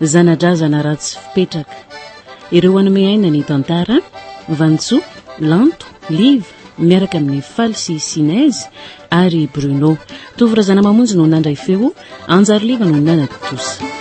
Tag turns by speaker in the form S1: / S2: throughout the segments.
S1: Zana-drazana ratsy fipetraka. Ireo hanome aina ny tantara, Vantso, Lanto, Liva, miaraka amin'ny Faly sy Sinez ary Bruno. Tovo Razanamamonjy no nandray feo, Anjary Liva no nanatontosa.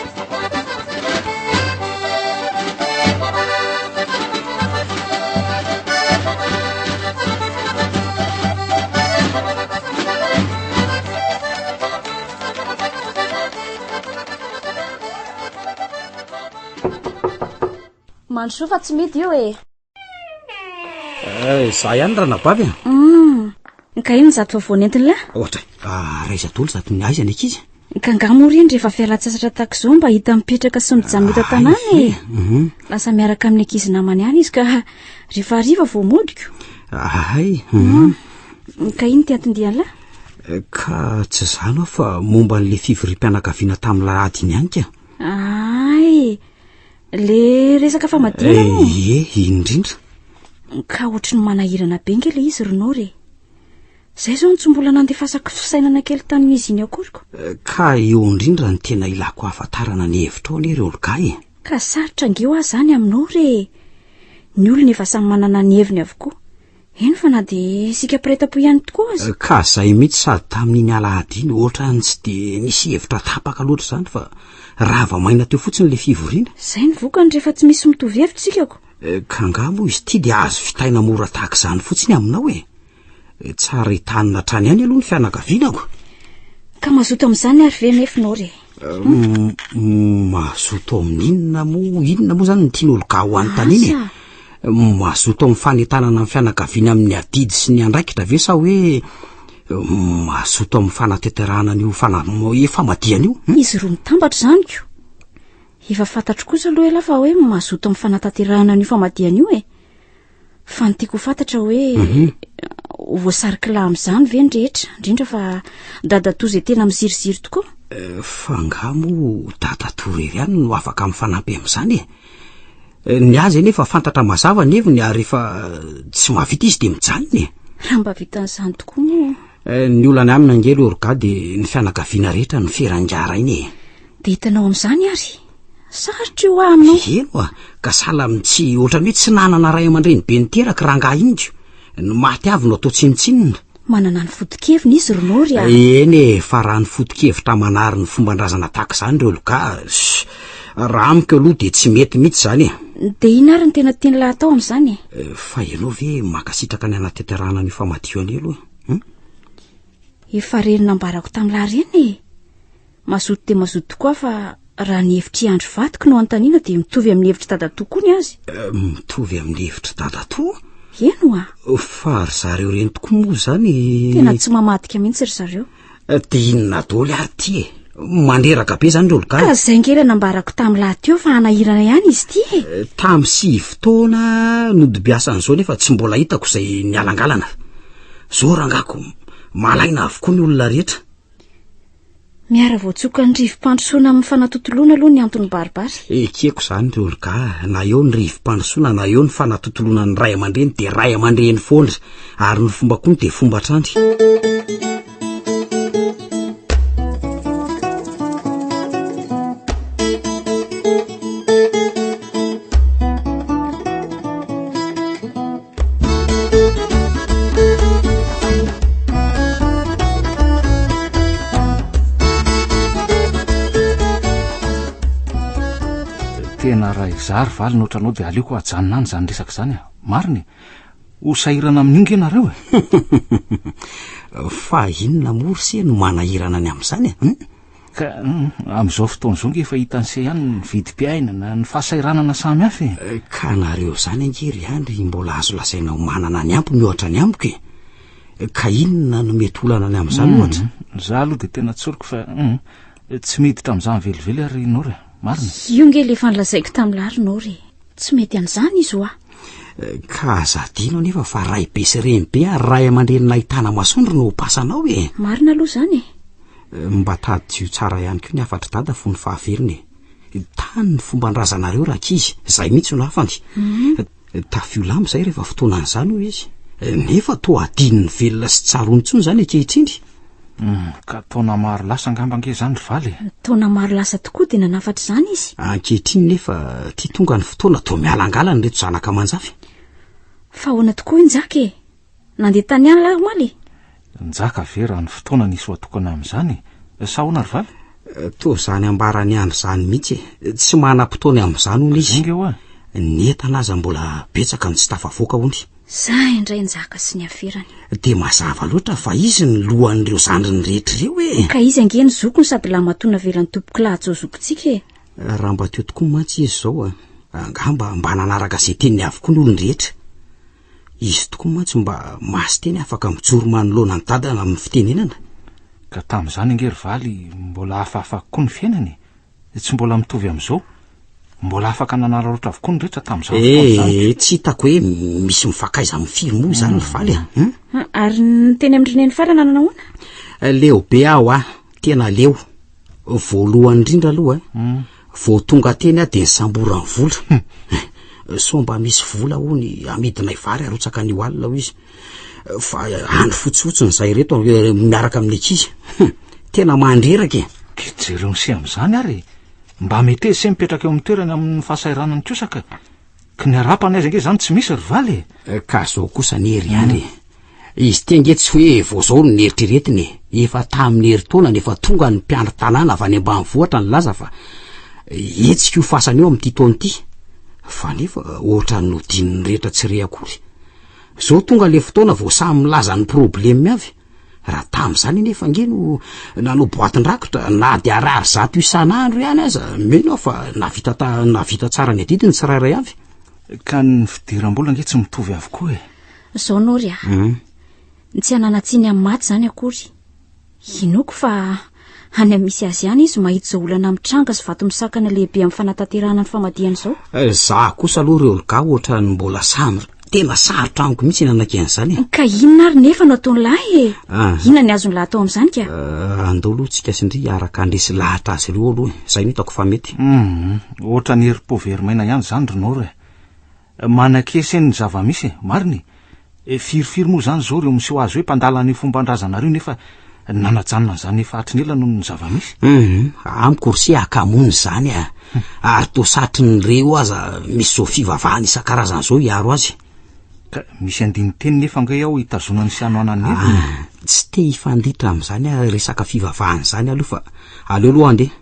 S2: Mandrosoa fa tsy midi io e. Eh,
S3: za ihany ranabavy a. Hum,
S2: ka inona zato vao nentiny lahy? Ohatra, ah,
S3: raiza dolo zato ny aiza ny ankizy. Ka ngah moa reny
S2: rehefa fialan-tsasatra tahaka izao mba hita mipetraka sy mijanona eto an-tanàna e. Ah, mhm. Lasa miaraka amin'ny ankizy namany ihany izy ka rehefa hariva vao modiko. Ahay. Mhm. Hum, ka inona ty anton-diany lahy? Ka
S3: tsy izany aho fa momba an'ilay fivoriam-pianakaviana tamin'ilay ady iny ihany ka. Ay,
S2: le resaka famadihana moa. Eh, ie, eh, indrindra.
S3: Ka
S2: ohatry ny manahirana be nge ilay izy Ronor e. Izay izao no tsy mbola nandefasako fisainana kely tamin'izy iny akoriko. Eh, ka eo
S3: indrindra ny tena ilako hahafantarana ny hevitrao anie ry Olga e. Ka sarotra nge
S2: ho ahy izany aminao re. Ny olona efa samy manana ny heviny avokoa. Eny fa na dia isika mpiray tampo ihany tokoa aza. Ka izay mihitsy sady
S3: tamin'iny alahady iny, ohatra ny tsy dia nisy hevitra tapaka loatra izany fa rava maina teo fotsiny ilay fivoriana. Izay ny vokany rehefa
S2: tsy misy mitovy hevitra isika ko. Eh, ka angaha moa
S3: izy ity dia azo vitaina mora tahaka izany fotsiny aminao e. Eh, tsara hitanina hatrany ihany aloha ny fianakaviana ko. Ka
S2: mazoto amin'izany ary ve nefinao re? Mazoto
S3: amin'inona moa inona moa zany ny tian'olon-ka ho anontaniana e? Mazoto amin'ny fanentanana ny fianakaviana amin'ny adidy sy ny andraikitra ve sa hoe mazoto amin'ny fanateterahana an'io fanamoe famadihana io? Hmm? Izy roa mitambatra izany
S2: ko. Efa fantatro kosa aloha elah fa hoe mazoto amin'ny fanatanterahana an'io famadihana io e. fa ny tiako ho fantatra hoe mhm. voasary kila amin'izany ve ny rehetra indrindra fa dadatoa izay tena miziriziry tokoa eh, fa nga
S3: moa dadatoa rery any no afaka amin'ny fanampy amin'izany e eh, ny azy anie efa fantatra mazava ny heviny ary efa eh, tsy mahavita izy dia mijanona e raha mba vitan'izany
S2: tokoa moa ny olany aminy
S3: angely orga dia ny fianakaviana rehetra ny ferangaraina e dia hitanao amin'izany
S2: ary Sarotra io amin' o. Heno a, ka
S3: sahala amin'ny tsy, ohatran'ny hoe tsy nanana ray aman-dreny be niteraka rangahy ingo. Ny maty avy no atao tsinontsinona. Manana ny
S2: foto-keviny izy ry Nôry a. Eny e, fa raha ny
S3: foto-kevitra manary ny fomban-drazana tahaka izany ry Olga, raha amiko aloha dia tsy mety mihitsy izany e. Dia inona ary ny tena
S2: tian'ilay atao amin'izany e? Eh, fa ianao ve
S3: mankasitraka ny hanatanterahana an'io famadihan io aloha e?
S2: Efa reny nambarako tamin'ilay reny e. Mazoto dia mazoto tokoa fa raha ny hevitr'i Andry vadiko no anontaniana dia mitovy amin'ny hevitr'i dadatoa koa ny azy. Eh, mitovy amin'ny
S3: hevitr'i dadatoa? Eny oa.
S2: Fa ry zareo
S3: ireny tokoa moa izany. Tena tsy mamadika
S2: mihitsy ry zareo. Eh, dia inona
S3: doly ary ity e? Mandreraka be izany Rolka. Ka izay ngera nambarako
S2: tamin'ny lahy teo fa hanahirana ihany izy ity e. Eh, tamin'ny sivy
S3: taona nodibiasan'izao nefa tsy mbola hitako izay nialangalana. Izao rangako, malaina avokoa ny olona rehetra.
S2: Miara voatsoka ny rivo-pandrosoana amin'ny fanatontoloana aloha ny antony baribary. Ekeko izany ry Olga,
S3: na eo ny rivo-pandrosoana na eo ny fanatontoloana ny ray aman-dreny dia ray aman-dreny foana, ary ny fomba koa dia fomba hatrany.
S4: tena raha izary valy ny ohatranao dia aleoko hajanona any izany resaka izany a marina e ho sahirana amin'ny inga ianareo e
S3: fa inona moa ry se no manahirana ny amin'izany e hmm? Ka
S4: amin'izao fotoana izao ange fa hitan'se ihany ny vidim-piainana, ny fahasahiranana samy hafa e! Ka nareo
S3: izany ange ry Andry mbola azo lazaina ho manana ny ampy mihoatra ny amiko e! Ka inona no mety olana ny amin'izany ohatra? Za aloha dia tena
S4: tsoriko fa tsy miditra amin'izany velively aho ry Nora, marina? Io ange ilay efa nolazaiko
S2: tamin'lah ry Nora e! Tsy mety an'izany izy hoa! Ka
S3: aza adino anefa fa raibe sy renibe ary ray aman-drenin'ahitana masoandro no ho pasanao e! Marina aloha izany e!
S2: Mba
S3: tadidio tsara ihany koa ny hafatr'i dada fony fahavelony e. Tany ny fomban-drazanareo rankizy, izay mihitsy no hafany. Mhm. Tafio lamba izay rehefa fotoanan'izany, hoy izy. Nefa toa adinony velona sy tsaroany intsony izany ankehitriny. Hmm, ka
S4: taona maro lasa angamba ange izany ry Valy e. Taona maro lasa
S2: tokoa dia nanafatra izany izy. Ankehitriny nefa
S3: ity tonga ny fotoana toa mialangalana ireto zanaka aman-jafy. Fa
S2: ahoana tokoa hoy Njaka e? Nandeha tany an lahy omaly e. Njaka ve
S4: raha ny fotoana nisy ho atokana amin'izany e? Sa ahoana ry vavy? Toa izany
S3: ambaran'i Andry izany mihitsy e. Tsy manam-potoany amin'izany hono izy. Enga hoa. Ny
S4: entana aza
S3: mbola betsaka no tsy tafavoaka hono. Zay indray
S2: Njaka sy ny aferany. Dia mazava
S3: loatra fa izy no lohan'ireo zandriny rehetra ireo e. Ka izy ange ny zokiny
S2: sady lahimatoa navelan'i Tompokolahajo zokintsika e. Raha mba teo tokoa
S3: mantsy izy izao a! Angamba mba nanaraka izay teniny avokoa ny olon-drehetra. Izy tokoa mantsy mba masin-teny afaka mijoro manoloana an'i Dada amin'ny fitenenana. Ka tamin'izany
S4: ange ry Valy mbola hafahafa kokoa ny fiainana e! Tsy mbola mitovy amin'izao. Mbola afaka nanararaotra avokoa ny rehetra tamin'izany fotoana izany ka. Eh, tsy hitako hoe
S3: misy mifankaiza amin'ny firy moa izany ry Valy a! Hum? Ary
S2: ny teny amin'i Rineny farana nanahoana? Leo be aho a!
S3: Tena leo. Voalohany indrindra aloha, Vao tonga teny aho dia nisamboran'ny vola. Hum. Sao mba misy vola hono hamidinay vary harotsaka an'io alina io izy. Fa andro fotsifotsiny izay ireto eh, miaraka amin'ny ankizy. Hum. Tena mandreraka e. Dia jereo ny seha
S4: amin'izany ary e. Mba meteza se mipetraka eo amin'ny toerany amin'ny fahasahiranan'ny kiosaka. Ka ny arapany aiza ange zany tsy misy ry valy e? Eh, ka zao kosa
S3: anie ry any e. Izy ty ange tsy hoe vao zao no neritreretiny e. Efa tamin'ny herintaonany efa tonga ny mpiandry tanàna avy any ambanivohitra nilaza fa hetsika io fasana io amin'ity taona ity. Fa nefa ohatran'ny nodininy rehetra tsy re akory. Zao tonga le fotoana vao samy milaza ny probleme avy. Raha tamin'izany anefa ange no nanao boatin-drakitra na dia ariary zato isan'andro ihany aza, mino aho fa navita ta, navita tsara ny adidy ny tsirairay avy. Ka ny
S4: fidiram-bola ange tsy mitovy avokoa e. Izao Nory a.
S2: Ny tsy hanana-tsiny amin'ny maty izany akory. Inoako fa. Any amin'ny misy azy ihany izy mahita izao olana mitranga sy vato misakana lehibe amin'ny fanatanterahana ny famadihana izao. Eh, za kosa aloha
S3: ry Olga ohatra ny mbola sandra. Tena sarotra amiko mihitsy ny anakena an'izany. Eh. Ka inona ary nefa
S2: no ataon'ny lahy e? Ah. Inona ny azon'ny lahy atao amin'izany ka? Eh, andao aloha tsika
S3: sindry araka andresy lahatra azy ireo aloha. Izay no hitako fa mety. Mhm. Ohatra ny
S4: herim-po very maina ihany izany ry Nora e. Manakese ny zava-misy e! Marina e! Firifiry moa izany izao ireo miseho azy hoe mpandala an'io fomban-drazanareo nefa nanajanona an'izany efa hatry ny ela noho ny zava-misy? Humm, amiko ry
S3: se hakamoana izany a! Ary toa satry ny re io aza misy izao fivavahana isan-karazany izao hiaro azy. Ka
S4: misy andinin-teny nefa ange ao hitazonany sy hanohanany ny heviny e! Tsy te
S3: hifanditra amin'izany resaka fivavahana izany aho aloha fa aleo aloha andeha.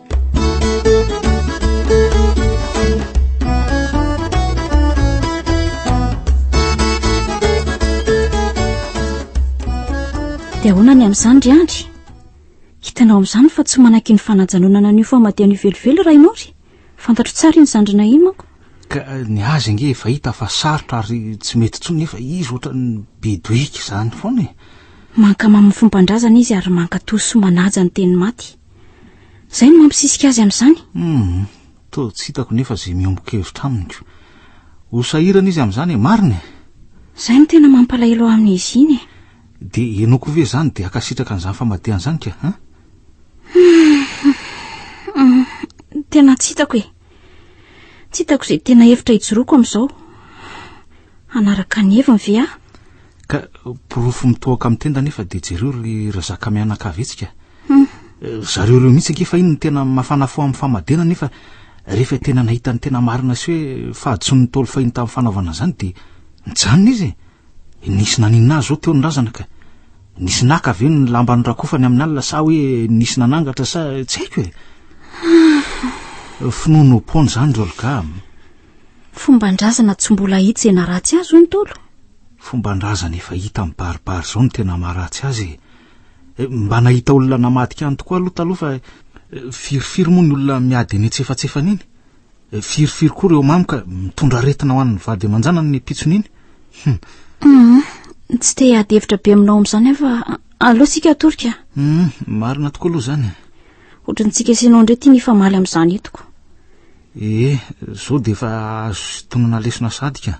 S2: dia ahoana ny amin'izany ry andry hitanao amin'izany fa tsy manaky ny fanajanonana an'io famadihana io velively raha ianao ry fantatro tsara iny zandrina iny manko ka eh, ny
S4: azy ange efa hita fa sarotra ary tsy mety tsony efa izy ohatra ny bedoika izany foana e mankamaminy
S2: fombandrazana izy ary mankatoso manaja ny teny maty Izay no mampisisika azy amin'izany. Hum, toa
S4: tsy hitako nefa izay miombon-kevitra amiko. Ho sahirana izy amin'izany e, marina e! Izay no
S2: tena mampalahelo ahy amin'izy iny e! Dia henoiko
S4: ve izany dia hankasitraka an'izany famadihany izany ka, an?
S2: Tena tsy hitako e! Tsy hitako izay tena hevitra hijoroako amin'izao. Hanaraka ny heviny ve aho? Ka
S4: porofo mitohoka amin'ny tenda anefa dia jereo ry Razaka mianakavy hetsika. Hmm. Ry zareo ireo mihitsy ange fa iny no tena mafana fo amin'ny famadihana nefa rehefa tena nahita ny tena marina sy hoe fahadisoan'ny Ntaolo fahiny tamin'ny fanaovana an'izany dia nijanona izy e! Nisy naninona azy zao teo ny razana ka. Nisy naka ve ny lamba norakofany amin'ny alina sa hoe nisy nanangatra sa tsy haiko e. Finoana ho pon zany ry Olga.
S2: Fomban-drazana tsy mbola hita izay naratsy azy hoy ny Tolo. Fomban-drazana
S4: efa hita mibaribary zao no tena maharatsy azy e. Eh, mba nahita olona namadika any tokoa aloha taloha fa eh, firifiry moa ny olona miady eny an-tsefatsefana eny. Firifiry koa reo mamy ka mitondra aretina ho an'ny vady aman-janany ny pitsony iny. Hum.
S2: Tsy te hiady hevitra be aminao amin'izany aho fa aleo tsika
S4: atorika.
S2: Hum,
S4: marina
S2: tokoa aloha izany. Ohatran'ny tsy kesenao indray ity mifamaly amin'izany entiko. Eh,
S4: izao dia efa azo sintonina lesona sadika.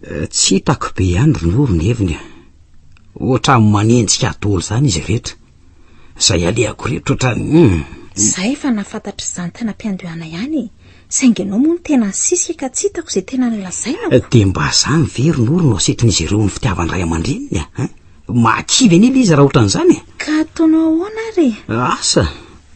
S2: Tsy hitako
S3: be ihany ry Noro ny heviny a. Ohatran'ny manenjika daholo izany izy rehetra. Izay alehako rehetra ohatran'ny hum. Za efa
S2: nafantatra izany tany ampiandohana ihany e, saingy ianao moa no tena nisisika ka tsy hitako izay tena nolazainako. Dia mba izany ve
S3: ry Noro no asetin'izy ireo ny fitiavan-dray aman-dreniny a? Mahakivy anie ilay izy raha ohatran'izany e. Ka ataonao ahoana
S2: ary e? Asa!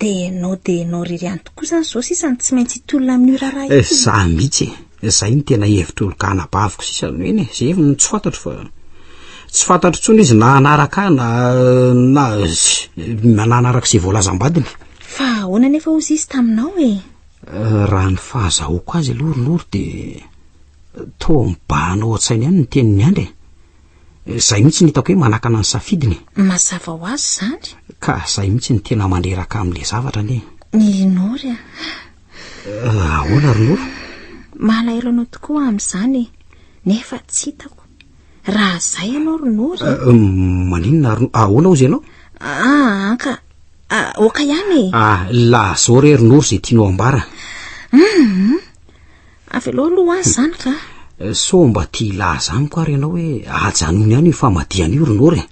S3: Dia no
S2: dia no ry ry any tokoa izany izao sisa no tsy maintsy hitolona amin'io raharaha io. Eh, za mihitsy e.
S3: Izay no tena hevitry olon anabaviko sisa no eny e. Ze no tsy fantatro fa tsy fantatro intsony izy na hanaraka ahy na na na nanaraka izay voalazam-badiny. Fa ahoana
S2: anefa hozy izy taminao e? Eh, raha
S3: ny fahazahoako azy aloha ry Noro dia toa mibahana ao an-tsainy ihany ny tenin'i Andry e. Zay mihitsy no hitako hoe manakana ny safidiny e. Mazava ho azy
S2: zany. Ka zay mihitsy no
S3: tena mandreraka amle zavatra anie. Ny Nory a.
S2: Ah,
S3: ahoana ry Noro? Malahelo
S2: anao tokoa aho amzany e. Nefa tsy hitako. Raha zay ianao ry Nory. Ah, ah, maninona
S3: ry Noro? Ahoana ozy ianao? Ah, anka.
S2: Ah, oka ihany e. Ah, lazao
S3: re ry Noro ze tianao ambara. Hum.
S2: Avy aloha aloha azy zany ka. Eh, so mba tia
S3: hilaza amiko ary ianao hoe ajanony any io famadihana io rinora e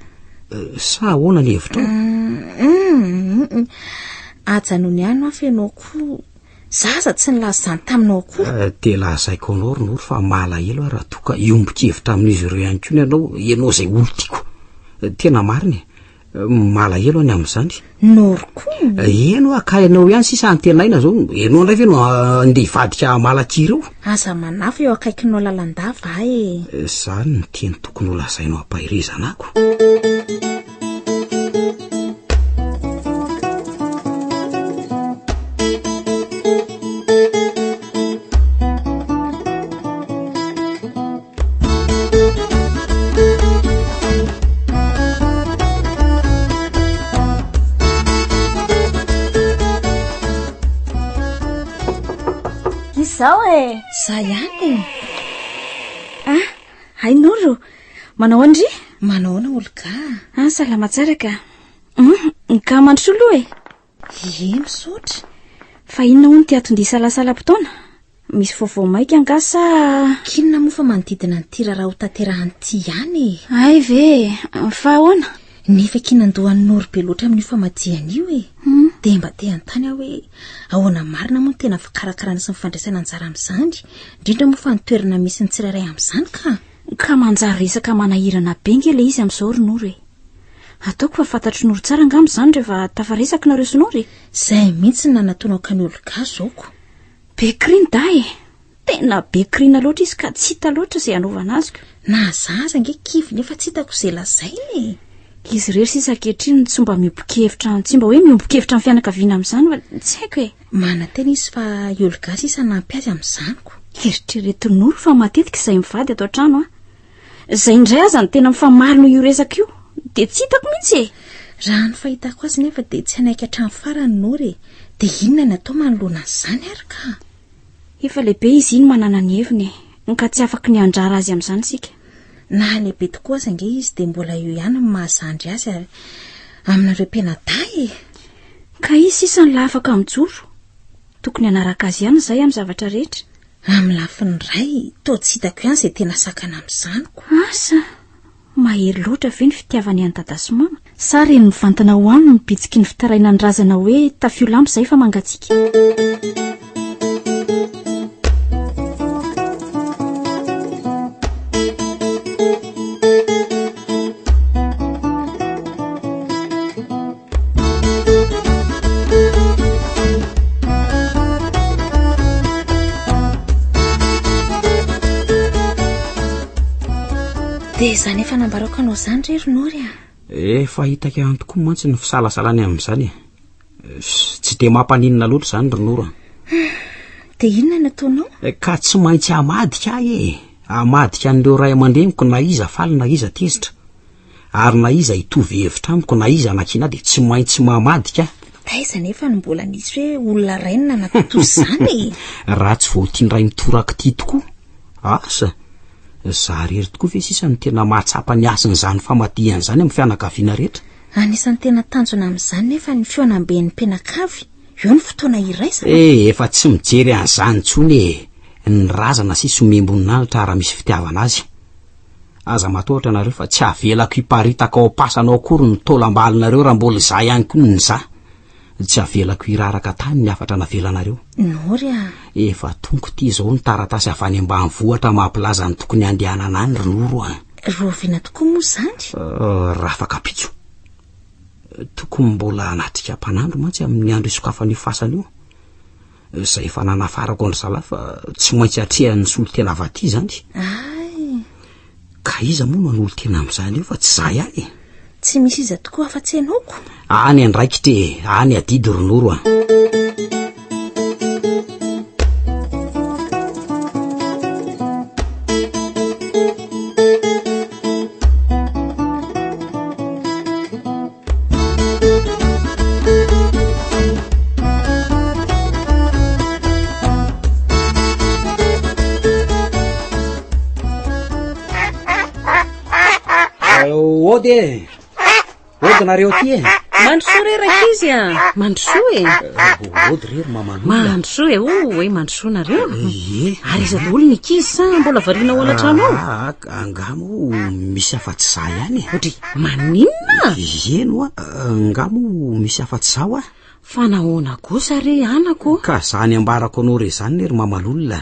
S3: eh, sa ahoana ny hevitra mm-hmm.
S2: ajanony any ho afa ianao koa zaza tsy nilaza izany taminao koa eh, dia lazaiko anao
S3: rinora fa malahelo a raha toa ka iombokevitra amin'izy ireo ihany koa ny ianao ianao izay olo tiako tena marina e malahelo any amin'izany norko
S2: eno eh, aka
S3: ianao ihany sisa antenaina zao enao indray ve no ah, nde hivadika malaky ireo aza manafo
S2: eo akaikinao lalandava a e eh, zany ny
S3: teny tokony ho lazainao ampahirezana ako
S2: Izao e! Za ihany e! Ah, hain'olo! Manao andry? Manaona olo ka? Ah, salama tsara ka. Hum, ka mandrosoa loha e! Ié misaotra. Fa inona hono ity aton-dihy salasalam-potoana? Misy vaovao maika angaha sa? K'inona moa fa manodidina an'ity raharaha ho tanterahana ity ihany e! Hay ve e! Fa ahoana? Nefa kiana an-doha an'i Noro be loatra amin'io famadihana io e! Dia mba te hanontany aho hoe ahoana marina moa no tena fikarakarana sy ny fandraisana anjara amin'izany, indrindra moa fa ny toerana misy ny tsirairay amin'izany ka! Ka manjary resaka manahirana be ange ilay izy amin'izao ry Noro e! Ataoko fa fantatry Noro tsara angamba izany rehefa tafaresaka nareo sy Noro e. Zay mihitsy ny nanatonako an'i Olga zaoko. Be cri ny dahy e. Tena be crina loatra izy ka tsy hita loatra izay hanaovana azy ko. Na za aza ange kivy nefa tsy hitako izay lazaina e. Izy irery sisa ankehitriny tsy mba miombon-kevitra tsy mba hoe miombon-kevitra amin'ny fianakaviana amin'izany fa tsy haiko e. Manantena izy fa i Olga sisa hanampy azy amin'izany ko. Eritrereto Noro fa matetika izay mivady ato an-trano an. Izay indray aza no tena mifamarina io resaka io dia tsy hitako mihitsy e! Raha ny fahitako azy nefa dia tsy hanaiky hatramin'ny farany ny Nora e! Dia inona ny atao manoloana an'izany ary ka? Efa lehibe izy iny manana ny heviny e! Ka tsy afaka ny handrara azy amin'izany isika. Na lehibe tokoa aza ange izy dia mbola eo ihany ny maha zandry azy ary aminareo mpianadahy e! Ka izy sisa no laha afaka mijoro. Tokony hanaraka azy ihany izahay amin'ny zavatra rehetra. Amin'ny lafiny iray, toa tsy hitako ihany izay tena sakana amin'izany ko. Asa, mahery loatra ve ny fitiavany an'i Dada sy Mama? Sa reny mivantana ho aminy ny bitsiky ny fitarainan'ny razana hoe tafio lampy izay fa mangatsiaka? dia izany efa nambarako anao izany re ry nory a efa hitako
S3: ihany tokoa mantsy ny fisalasalany amin'izany e Tsy dia mampaninona loatra izany ry Nora.
S2: Dia inona no ataonao? Eh, ka tsy maintsy
S3: hamadika ahy e. Hamadika an'ireo ray aman-dreniko na iza faly na iza tezitra. Ary na iza hitovy hevitra amiko na iza anakiana dia tsy maintsy mamadika ahy. Taiza nefa no
S2: mbola nisy hoe olona rainy nanatao toy izany e? Raha tsy vao
S3: tian'iray mitoraka ity tokoa. Asa, za rery tokoa ve sisa no tena mahatsapa ny hasin'izany famadihana izany amin'ny fianakaviana rehetra? Anisan'ny tena
S2: tanjona amin'izany nefa ny fihaonamben'ny mpianakavy, eo ny fotoana iraisana. E, efa tsy mijery
S3: an'izany intsony e, ny razana sisa omem-boninahitra ara misy fitiavana azy. Aza matahotra nareo fa tsy avelako hiparitaka ao am-pasana ao akory ny taolam-balinareo raha mbola izaho ihany koa no nizaha. Tsy avelako hiraraka tany ny hafatra navelanareo. Nory a!
S2: Efa tonko ity
S3: izao ny taratasy avy any ambanivohitra mampilaza ny tokony handehanana any ry Noro a! Rahoviana tokoa moa
S2: izany? Euh, Rafakapitso.
S3: Tokony mbola hanatrika mpanandro mantsy amin'ny andro isokafan'io fasana io. Izay efa nanafarako an-dry zalahy fa tsy maintsy atrehan'ny solontena avy aty izany. Ay!
S2: Ka
S3: iza moa no hanolo-tena amin'izany eo fa tsy izaho ihany e! Tsy misy iza
S2: tokoa afa-tsy ianao ko! Any andraikitra
S3: e! Any adidy ry Noro a! ody e ody nareo ty e mandrosoa re raka
S1: izy a mandrosoa e eh, ody rery
S3: mamano mandrosoa e o oh, hoe
S1: mandrosoa nareo eh, eh. ary iza daholo ny kizy sa mbola variana ho anatrano ah, ah, ah. Angaha moa
S3: misy afa-tsy za ihany e Odry, maninona?
S1: Ieno a,
S3: angaha moa misy afa-tsy za hoa? Fa nahoana
S1: kosa re anako? Ka zany ambarako
S3: anao re zany ne ry mamalolona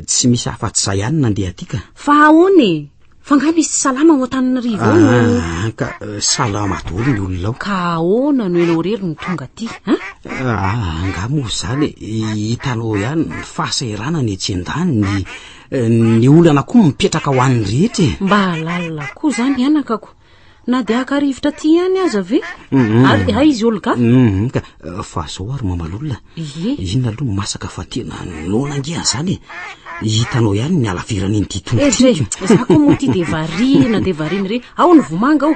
S3: Tsy misy afa-tsy za ihany nandeha aty ka Fa ahoana e?
S1: Fa nga misy tsy salama ao Antananarivo ao no... Ah, ka eh, salama
S3: daholo ny olona ao Ka ahoana no ianao
S1: rery no tonga aty a? Ah, angaha
S3: moa zany e, hitanao ihany ny fahasahiranana etsy an-daniny eh, ny olana koa mipetraka ho an'ny rehetra e mba halalina
S1: koa zany anakako na dia haka rivotra ty ihany aza ve mhm. ary hay izy olga mhm, ka eh, fa
S3: zao ary mamalolona ye inona aloha masaka fa tena nona angean' zany e hitanao ihany ny alaverany iny ty tongotra ehe za koa moa ty de
S1: variana de variana re ao ny vomanga ao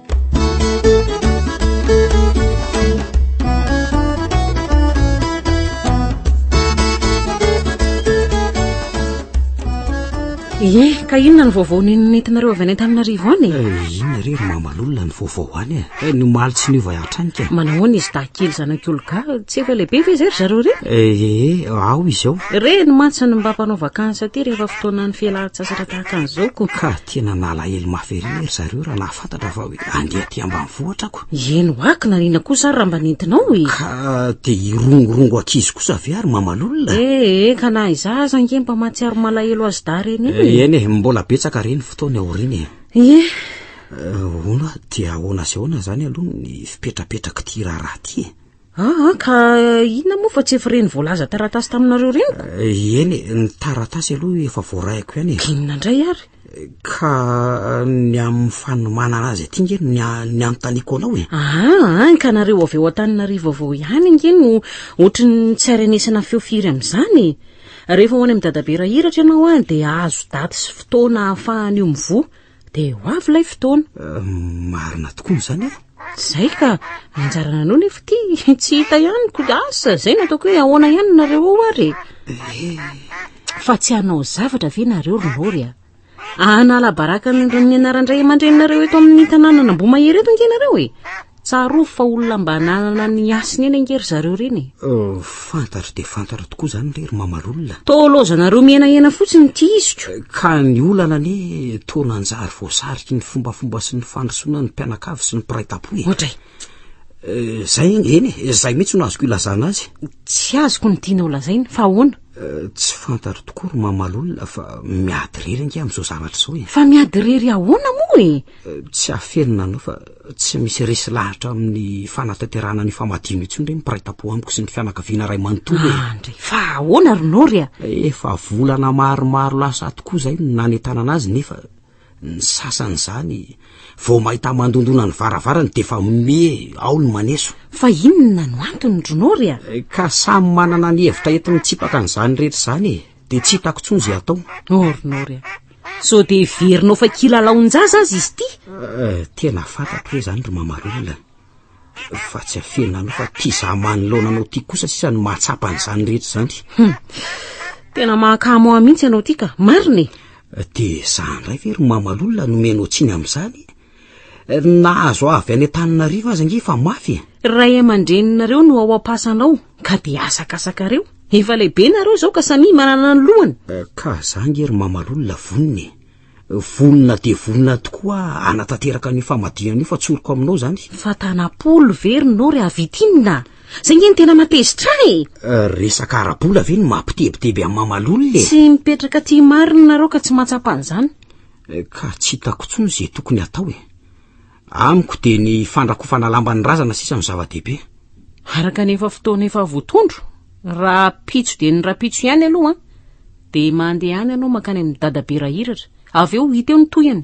S1: ye eh, ka inona ny vaovao nentinareo avy any antananarivo any eh, inona re ry
S3: mamalolona ny vaovao any e eh, ny omaly tsy niova hatrany ka manahoana izy dahikely
S1: zanak'olga tsy efa lehibe ve izay ry zareo re ee ao izao
S3: re ny mantsy ny mba
S1: mpanao vakansa aty rehefa fotoanany fialan-tsasatra tahaka an'izao ko ka Tena nalahelo
S3: mafy ery ry zareo raha nahafantatra fa hoe andeha aty ambanivohitra ako. Ieny ho ahy kinanina
S1: kosa ary raha mba nentinao e! Ka dia
S3: hirongorongo ankizy kosa ve ary mamalolona? Ee ka na
S1: izaho aza ange mba mahatsiaro malahelo azy dahy ireny io e! Eny e, mbola
S3: betsaka re ny fotoana aoriana e! Ie! Hono aho, dia ahoana sy ahoana izany aloha ny fipetrapetrak'ity raharaha ity e? Ah, ah, ka
S1: inona moa fa tsy efa ireny voalaza taratasy taminareo ireny ko? Eh, eny, ny
S3: taratasy aloha efa voarahiko ihany e. Inona indray ary? Eh,
S1: ka
S3: eh, ny amin'ny fanomanana azy aty nge ny ny anontaniako anao e. Ah, ah, ka nareo
S1: avy ao Antananarivo avao ihany nge no ohatry ny tsy arenesana feo firy amin'izany e. Rehefa ho any amin'ny dadabe rahiratra ianao ah, dia azo daty sy fotoana ahafahany io mivoha. Dia ho avy ilay fotoana. Eh, marina
S3: tokoa izany e. Zay ka,
S1: anjara nanao nefa ty, tsy hita ihany ko asa, zay nataoko hoe ahoana ihany nareo ao ary. Eh. Fa tsy hanao zavatra ve nareo ry Nory a? Hanala baraka ny anaran-dray aman-dreninareo eto amin'ny tanànan'Ambohimahery eto ange nareo e. Tsarovy fa olona mba nanana ny hasiny eny ange ry zareo reny e. Euh, fantatro
S3: dia fantatro tokoa izany re ry mamalolona. Toa laozanareo mihenahena
S1: fotsiny ity iziko. Eh, ka ny olana
S3: anie toa nanjary voasariky ny fombafomba sy ny fandrosoana ny
S1: mpianakavy
S3: sy ny mpiray tampo e. Ohatray. Eh, zay anie, eny e, zay mihitsy no azoko ilazana azy. Tsy azoko ny
S1: tianao lazaina, fa ahoana? Eh, tsy fantatro
S3: tokoa ry mamalolona fa miady rery ange amin'izao zavatra izao e. Fa miady rery ahoana
S1: moa e? Tsy hafeno
S3: nanao fa tsy misy resy lahatra amin'ny fanatanterahana ny famadino intsony ndray ny mpiray tampo amiko sy ny fianakaviana ray manontolo e. Andre, ah, fa ahoana
S1: ry Nory a? Efa volana
S3: maromaro lasa tokoa izay no nanentanana azy nefa ny sasany izany vao mahita mandondona ny varavarany dia efa me ao ny maneso. Fa inona no
S1: antony ry Nory a? Eh, ka samy manana
S3: ny hevitra enti-mitsipaka an'izany rehetra izany e. dia tsy hitako tsony izay atao nôrnôry a
S1: sao dia heverinao fa kilalaon-jaza azy izy ity eh, tena
S3: fantatro hoe izany ry mamarolona fa tsy afena anao fa tia za manoloana anao tia kosa sisa ny mahatsapa an'izany rehetra izany hmm. tena
S1: mahakamo ahy mihitsy ianao ity ka marina e eh, dia
S3: za indray ve ry mamalolona nomenao tsiny amin'izany Nahazo avy any Antananarivo aza nge fa mafy e. Ry ray aman-dreninareo
S1: no ao am-pasanao ka dia asakasakareo. Efa lehibe nareo izao ka samia manana ny lohany. Eh, ka za nge
S3: ry mamalolona vonona e. Vonona dia vonona tokoa hanatanteraka an'io famadihana io fa tsoriko aminao izany. Fa tanam-polo
S1: ve ry nao ry havitinina? Zay nge ny tena matezitra ahy e. Eh, resaka ara-bola
S3: ve no mampitebiteby an'i mamalolona e. Tsy mipetraka aty
S1: marina nareo ka tsy mahatsapa an'izany. Ka tsy
S3: hitako intsony izay tokony hatao e! Amiko dia ny fandrakofana lamban'ny razana sisa no zava-dehibe. Araka ny
S1: efa fotoana efa voatondro, rahampitso dia ny rahampitso ihany aloha an! Dia mandehana ianao mankany amin'i Dadabe Rahiratra, avy eo hita eo ny tohiny.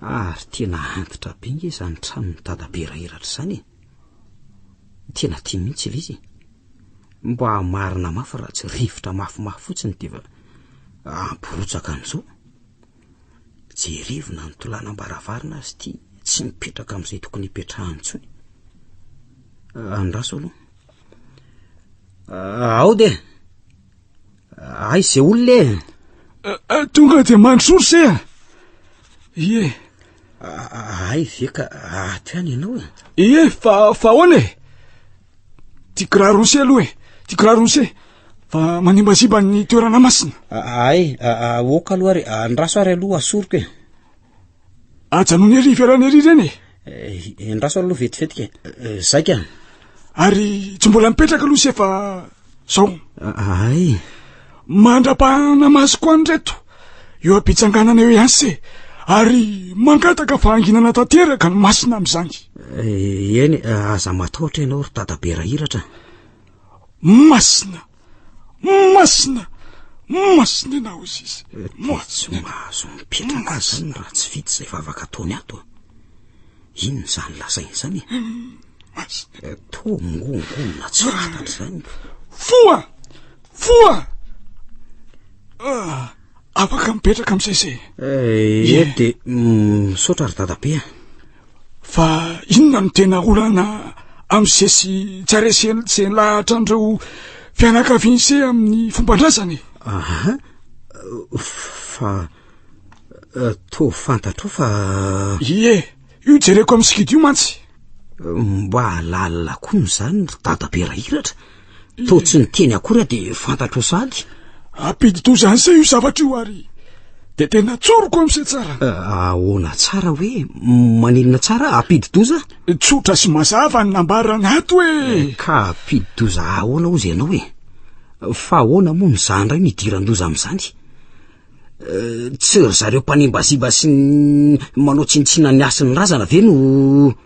S3: Ary tena antitra be nge izany tranon'i dada be rairatra izany e. Tena tia mihitsy ilay izy. Mba marina mafy raha tsy rivotra mafimafy fotsiny dia efa ampirotsaka an'izao. Jerevina ny tolanam-baravarana azy ity tsy mipetraka amin'izay tokony hipetrahany intsony. Andraso aloha. Ao dia. Aiza izay olona e? Tonga dia mandrosory
S5: se a! Ie.
S3: Ay ve ka ato ihany ianao e? Ie, fa fa
S5: ahoana e? Ty kiraro se aloha e, ty kiraro se fa manimbaziba ny toerana masina. Ay,
S3: aoka aloha ary andraso ary aloha asoriko e.
S5: Ajanony ery ivelany ery ireny e. Eh, endraso
S3: aloha vetivety ke. Eh, zay ka. Ary
S5: tsy mbola mipetraka aloha se fa zao. Ay. Mandra-pahana masoko any reto. Eo am-pitsanganana eo ihany se. Ary mangataka fahanginana tanteraka ny masina amin'izany. Eh, eny,
S3: aza matahotra ianao ry dadabe rahiratra.
S5: Masina. Masina! Masina ianao Izy. Moa tsy mahazo
S3: mipetraka azany raha tsy vita izay vavaka ataony ato. Inona izany lazainy izany? Masina.
S5: Toa mongongona
S3: tsy fantatra izany. Foa!
S5: Foa! Ah, afaka mipetraka amin'izay izay. Eh, eh dia
S3: misaotra ry dadabe. Fa
S5: inona no tena olana amin'i Cé sy Jare sy izay lahatran'ireo fianakavian'i Cé amin'ny fomban-drazana e? Aha,
S3: fa eh, toa fantatrao fa... Ie, io
S5: jereko amin'ny sikidy io mantsy. Mba
S3: lalina koa ny izany ry dadabe Rahiratra. Toa tsy niteny akora de fantatro sady Ampidi-doza
S5: an'se io zavatra io ary de tena tsoriko amin'se tsara. Ahoana
S3: tsara hoe maninona tsara ampidi-doza? Tsotra sy mazava
S5: ny nambarana ato hoe. Eh, ka ampidi-doza
S3: ahoana ozy ianao e? Fa ahoana moa ny za indray no idiran-doza amin'izany? Eh, tsy ry zareo mpanimbaziba sy ny manao tsinontsina ny hasin'ny razana ve no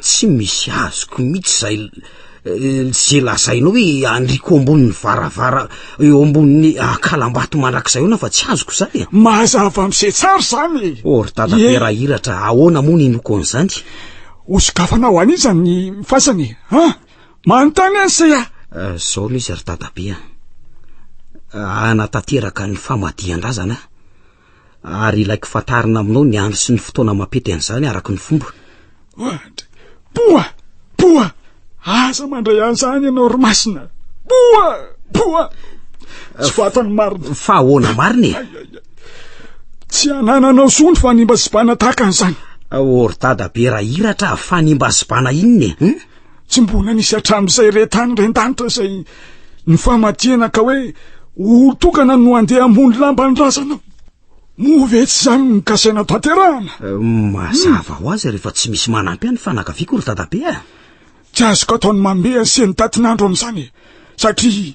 S3: Tsy misy azoko mihitsy zay ze lazainao hoe andriko ambonin'ny varavara eo ambonin'ny akalambato mandrakizay ona fa tsy azoko zany e. Mazava mise
S5: tsara zany e. O ry dada be raha
S3: iratra ahoana moa ny noko an'izany? Hosokafana
S5: ho an'iza ny fasana e? Ha? Manontany any se a! Zao no izy
S3: ry dada be a! Hanatanteraka ny famadihan-drazana aho. Ary ilaiko fantarina aminao ny andro sy ny fotoana mampety an'izany araka ny fomba. Ohatra, Poa!
S5: Poa! Aza mandray an'izany ianao ry Masina! Poa! Poa! Tsy fatan'ny marina. Fa ahoana marina e? Tsy anananao soa ny fanimbazibana tahaka an'izany. Aory dada
S3: be raha iratra, fanimbazibana inona e? Hmm? Tsy mbola
S5: nisy hatramin'izay re tany ren-danitra izay nifamatiana ka hoe olon-tokana no andeha hamono lamba ny razanao. Moa ve tsy izany no kasaina tanterahana? Mazava
S3: ho azy rehefa tsy misy manampy ahy ny fanakaviako ry dadabe a! Tsy azoko
S5: ataony mamehy an'seho ny datin'andro amin'izany e! Satria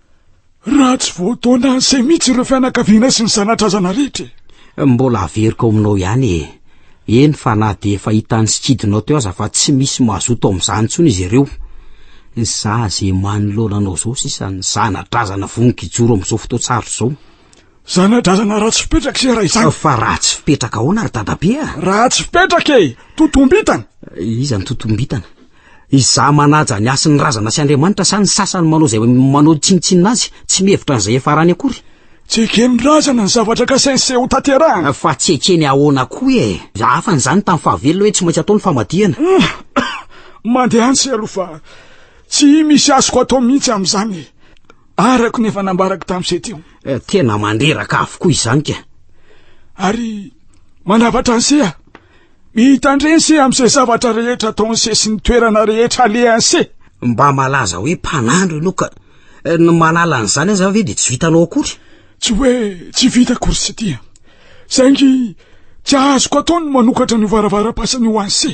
S5: Raha tsy voataona an'izay mihitsy ireo fianakaviana sy ny zanadrazana rehetra e! Mbola averiko
S3: ao aminao ihany e! Eny fa na dia efa hitan'ny sikidinao teo aza fa tsy misy mazoto amin'izany intsony izy ireo. Za izay manoloana anao izao sisa ny zanadrazana vonon-kijoro amin'izao fotoan-tsarotra izao. Zanadrazana
S5: ratsy fipetraka ise raha izany! Fa ratsy fipetraka
S3: ahoana ry dadabe a? Ratsy fipetraka
S5: e! Totombitana! Iza no
S3: totombitana? Izaho manaja ny hasin'ny razana sy Andriamanitra sa ny sasany manao izay manao tsinontsinona azy, tsy mihevitra an'izay efa rany akory? Tsy eken'ny
S5: razana ny zavatra kasainy sy hotanterahany. Fa tsy ekeny ahoana
S3: koa e! Hafa an'izany tamin'ny fahavelona hoe tsy maintsy atao ny famadihana.
S5: Mandeha any se aloha fa tsy misy azoko atao mihitsy amin'izany e! Araka ny efa nambarako tamin'izay teo. Tena mandreraka
S3: avokoa izany ka! Ary
S5: manavatra an'se aho. Mitandrese amin'izay zavatra rehetra ataon'i se sy ny toerana rehetra alehan'i se. Mba malaza
S3: hoe mpanandro ianao ka. Eh, ny manala an'izany aza ve dia tsy vitanao akory? Tsy hoe
S5: tsy vita akory sy tia. Saingy tsy azoko atao ny manokatra ny varavaram-pasany ho an'i se.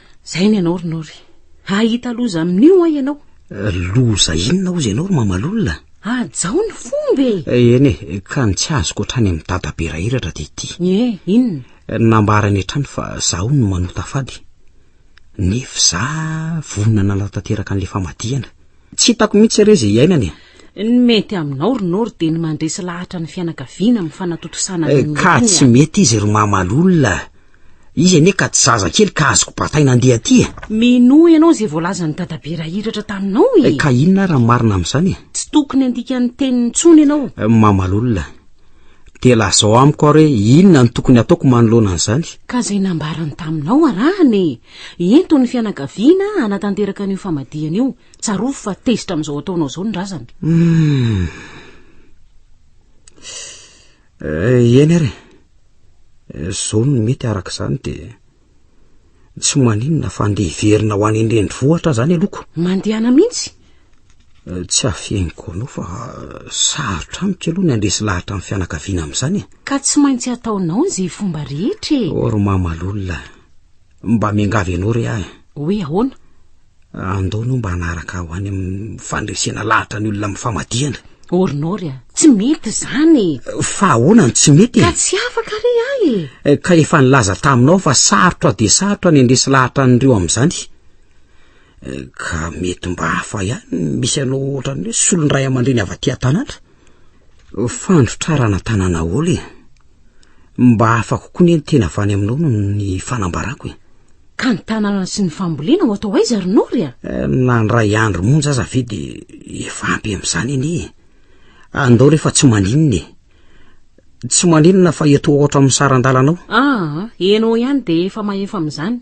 S1: Zay ny anao ry Nory. Hahita loza amin'io ho'a ianao. Loza
S3: inona hozy ianao ry mamalolona? Hajao ny
S1: fomba e! Eh, eny e, ka ny
S3: tsy azoko hatrany amin'ny dada be rahiratra dia ity. Ie, inona?
S1: Nambarany
S3: hatrany fa zaho no manota fady. Nefa za vonona nanatanteraka an'ilay famadihana. Tsy hitako mihitsy re izay iainany e! Ny mety
S1: aminao ry Nory dia ny mandresy lahatra ny fianakaviana amin'ny fanatontosana eh, an'iny olona iny. Ka tsy mety
S3: izy ry mamalolona. Izy anie ka tsy zaza kely ka azoko bataina andeha aty e. Minoa ianao izay
S1: voalazan'i Dadabe Rahiratra taminao e. Ka inona ary ny
S3: marina amin'izany e? Tsy tokony handika
S1: ny teniny intsony ianao. Mamalolona.
S3: Dia lazao amiko ary hoe inona no tokony hataoko manoloana an'izany? Ka izay nambarany
S1: taminao arahana e. Ento ny fianakaviana hanatanteraka an'io famadihana io. Tsarovy fa tezitra amin'izao ataonao izao ny razana. Hum.
S3: Eh, eny ary eh, zao ny mety araka izany dia tsy maninona fa ndeha hiverina ho any indrendry vohatra zany aloko mandehana mihitsy
S1: eh, tsy
S3: afeniko anao fa sarotra amiko aloha ny andresy lahatra amin'ny fianakaviana amin'izany e ka tsy maintsy
S1: ataonao ny zay fomba rehetra e ory mamalolona
S3: mba miangavy anao re ahy hoe ahoana
S1: Andao
S3: aloha mba hanaraka aho any amin'ny fandresena lahatra ny olona amin'ny famadihana. Orinory a,
S1: tsy mety izany. Fa ahoana no
S3: tsy mety e? Ka tsy afaka re
S1: ahy e. Eh, ka efa nilaza
S3: taminao fa sarotra dia sarotra ny handresy lahatra an'ireo amin'izany. Eh, ka mety mba hafa ihany misy anao ohatran'ny hoe solon-dray aman-dreny avy aty an-tanàna. Fandrotrarana tanana aolo e. Mba hafa kokoa ne ny tena avy any aminao no ny fanambarako e. Ka ny
S1: tanana sy ny fambolena ho atao aiza ry Nory a? Eh, nandray
S3: andro monja aza ve de efa ampy amin'izany anie e. Andao rehefa tsy maninona e. Tsy maninona fa eto ohatra amin'ny saran-dalanao. Ah, enao
S1: ihany de efa mahefa amin'izany.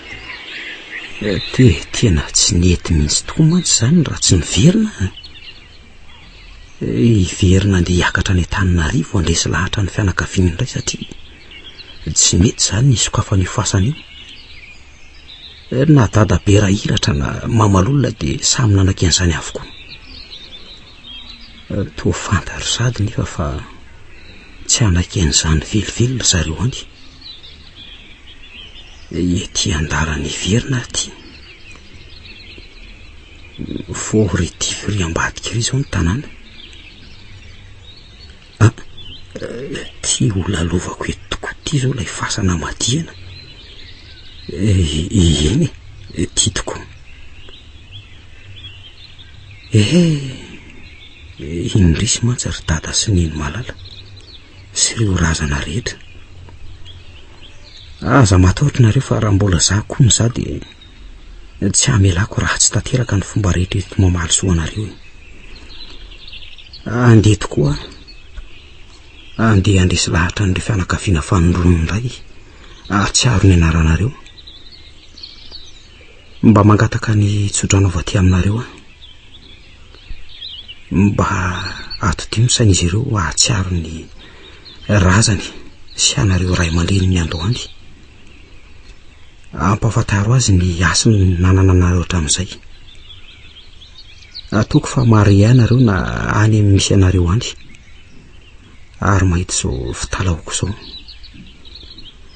S3: Te, tena tsy nety mihitsy tokoa mantsy izany raha tsy niverina an! Hiverina handeha hiakatra any Antananarivo handresy lahatra ny fianakaviany indray satria tsy mety izany ny hisokafana io fasana io. Na dadabe Rahiratra na Mamalolona dia samy nanaky an'izany avokoa. Toa fanta ry Sady nefa fa tsy hanaiky an'izany velively ry zareo any. Ity andalan' hiverina aho ity. Fort retif ery ambadika ery izao ny tanàna. Ah, ity ho lalaovako eto tokoa ity izao ilay fasana madihana. Eny e, ity tokoa. Ehe, indrisy mantsy ry Dada sy Nenimalala. sy ireo razana rehetra. Aza matahotra nareo fa raha mbola za koa no za dia tsy hamelako ratsy tanteraka ny fomba rehetra entiko mamaly soa anareo e. Andeha tokoa aho. Andeha handresy lahatra an'ireo fianakaviana fanindronan'ny ray ahatsiaro ny anaranareo. Mba mangataka ny tsodrano avy aty aminareo aho. Mba atodio ny sain'izy ireo hahatsiaro ny razany sy anareo ray aman-dreny niandohandy. Ampahafantaro azy ny hasiny nanana anareo hatramin'izay. Ataoko fa marié ianareo na any amin'ny misy anareo any. Ary mahita izao fitalahoako izao.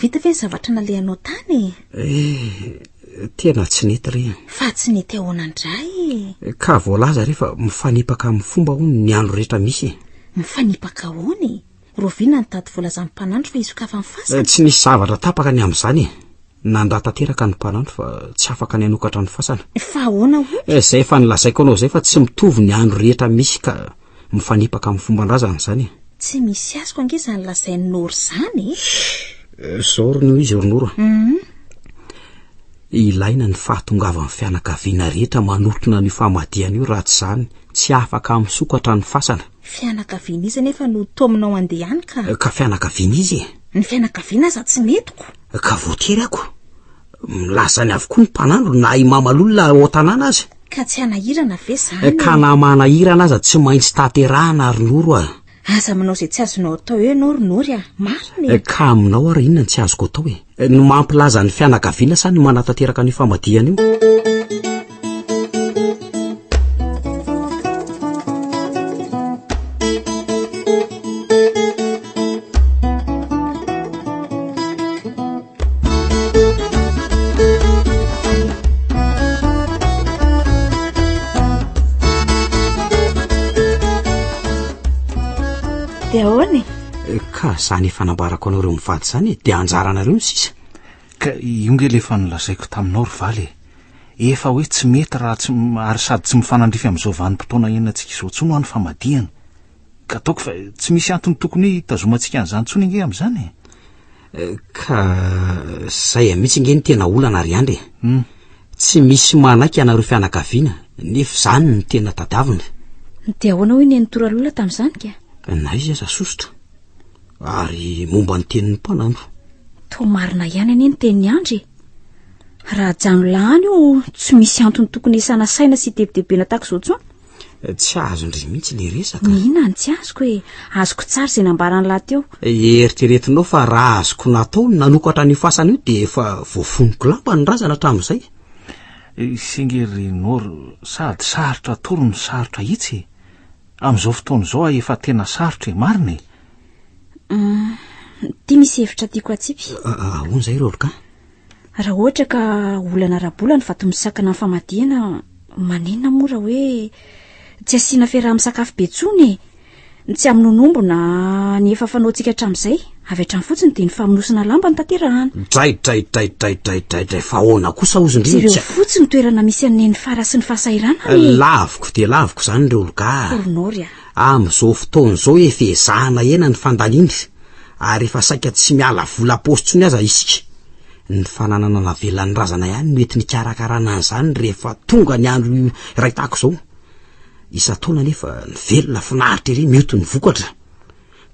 S2: Vita ve ny zavatra nalehanao tany e? Eh,
S3: tena tsy nety re. Fa tsy nety ahoana
S2: ndray e? Ka voalaza re
S3: fa mifanipaka amin'ny fomba hono ny andro rehetra misy e. Mifanipaka
S2: ahoana e? Rovina ny tady voalazan'ny mpanandro fa hisokafany eh, fasana. Tsy nisy zavatra tapaka
S3: ny amin'izany e. Nandà tanteraka ny mpanandro fa tsy afaka ny hanokatra ny fasana. Fa ahoana hono?
S2: Eh, izay efa nilazaiko anao
S3: izay fa tsy mitovy ny andro rehetra misy ka. mifanipaka amin'ny fomban-drazana izany e. Tsy misy azoko
S2: ange izany lazain'i Noro izany e. Eh, izao
S3: ry Noro izy ry Noro. Mhm. Ilaina ny fahatongavan'ny fianakaviana rehetra manotona an'io famadihana io raha tsy izany tsy afaka misokatra ny fasana. Fianakaviana iza
S2: nefa no taominao andehany ka? Eh, ka fianakaviana
S3: izy e. Ny fianakaviana
S2: aza tsy metiko. Eh, ka voatery ako.
S3: Milaza any avokoa ny mpanandro na i Mamalolona ao tanàna aza. Ka tsy hanahirana
S2: ve izany e? Ka na manahirana
S3: aza tsy maintsy tanterahana ary Noro a! Aza manao izay tsy
S2: azonao atao eo ianao ry Nory a! Marina e! Ka aminao ary
S3: inona no tsy azoko atao e? Ny mampilaza ny fianakaviana sa ny manatanteraka an'io famadihana io? dia ahoana e eh, ka zany efa nambarako anareo mivady zany e dia anjaranareo ny sisa ka
S4: io nge lefa nolazaiko taminao ry valy e efa hoe tsy mety raha tsy ary sady tsy mifanandrify amin'izao vanim-potoana enantsika izao tsoa no any famadihana ka ataoko fa tsy misy antony tokony hoe hitazomantsika an'izany tsoa ny nge amin'izany e
S3: Ka zay mihitsy nge ny tena olana ry Andry e. Hmm. Tsy misy manaiky anareo fianakaviana, nefa zany ny tena tadavina. Dia ahoana
S2: hoy ny Ntora Lola tamin'izany ka? Na izy aza
S3: sosotra. Ary momba ny tenin'ny mpananto. Toa marina
S2: ihany anie ny tenin'i Andry e. Raha jano lahany io tsy misy antony tokony isana saina sy tebitebena tahaka izao intsony. Tsy
S3: azon-dry mihitsy le resaka. Mihina ny tsy azoko e.
S2: Azoko tsara izay nambaran'i lahy teo. Eritreretinao fa
S3: raha azoko natao ny nanokatra an'io fasana io dia efa voafonoko lamba ny razana hatramin'izay. Singy ry
S4: Noro, sady sarotra atoro no sarotra ahitsy e. Amin'izao fotoana izao aho efa tena sarotra e, marina e.
S2: Ity misy hevitra tiako atsipy. Ahoana izay Rôlka?
S3: Raha
S2: ohatra ka olana ara-bola ny vato misakana ny famadihana, maninona moa raha hoe tsy asiana fiaraha-misakafo be intsony e? Ny tsy hamonoanombona ny efa fanaontsika hatramin'izay, avy hatrany fotsiny dia ny famonosana lamba no tanterahana. Draidraidraidraidraidraidray
S3: fa ahoana kosa ozy ndry no tsy a. Jereo fotsiny ny toerana
S2: misy an'i Nenifara sy ny fahasahiranany e! Laviko dia
S3: laviko izany ry Olga a! Koronoro a!
S2: Amin'izao fotoana
S3: izao efa ezahana hena ny fandaniana ary efa saika tsy miala vola paosy intsony aza isika. Ny fananana navelan'ny razana ihany no ety nikarakarana an'izany rehefa tonga ny andro iray tahaka izao. Isan-taona anefa ny velona finaritra ery mioty ny vokatra.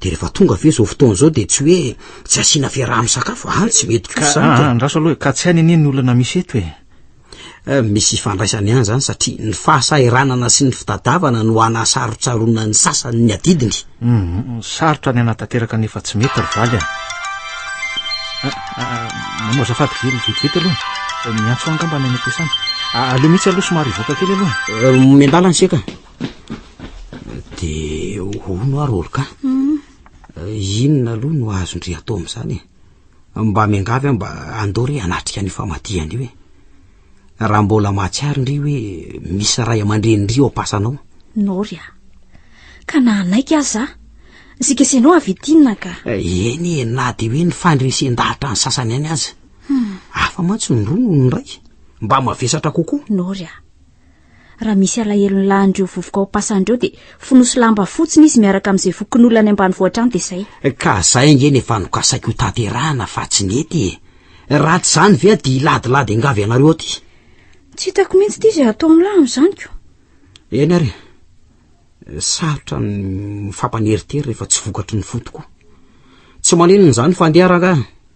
S3: Dia rehefa tonga ve izao fotoana izao dia tsy hoe tsy asiana fiaraha-misakafo, any tsy mety kosa izany ka. Andraso aloha e! Ka tsy hainy anie
S4: ny olana misy eto e! Eh,
S3: misy ifandraisany ihany zany satria ny fahasahiranana sy ny fitadavana no anasarotsaroana ny sasany ny adidiny mhm, sarotra
S4: ny anatanteraka ny efa tsy mety ry valy a ah, ah, ah, manao azafady kely vetivety aloha eh, miantso angamba any anatesana aleo mihitsy aloha somary ivoaka kely aloha eh, miandala ny seka
S3: de ono ary oloka mhm. inona aloha no azondry atao am'izany e Mba miangavy aho mba andoro hoe hanatrika an'io famadihana io e. Raha mbola mahatsiaro ndry hoe misy ray aman-dreny ndry ao am-pasanao. Nory a.
S2: Ka na hanaiky aza zikesenao avy ety inona ka. Eh, eny e, na
S3: dia hoe ny fandresen-dahatra ny sasany ihany aza. Hmm. Hafa mantsy ny roa noho ny iray. Mba mavesatra kokoa. Nory a.
S2: Raha misy alahelony lahin'ireo vovoka ao Pasany ireo dia fonoso lamba fotsiny izy miaraka amin'izay fokonolona any ambanivohitra any dia izay. Ka izay ange no
S3: efa nokasaiko hotanterahina fa tsy nety e! Raha tsy izany ve dia hiladilady angavy ianareo aty? Tsy hitako
S2: mihitsy ity izay hatao amin'lah amin'izany ko. Eny ary
S3: e! Sarotra ny mifampaneritery rehefa tsy vokatry ny fo tokoa. Tsy maninona izany fa andeha rangahy.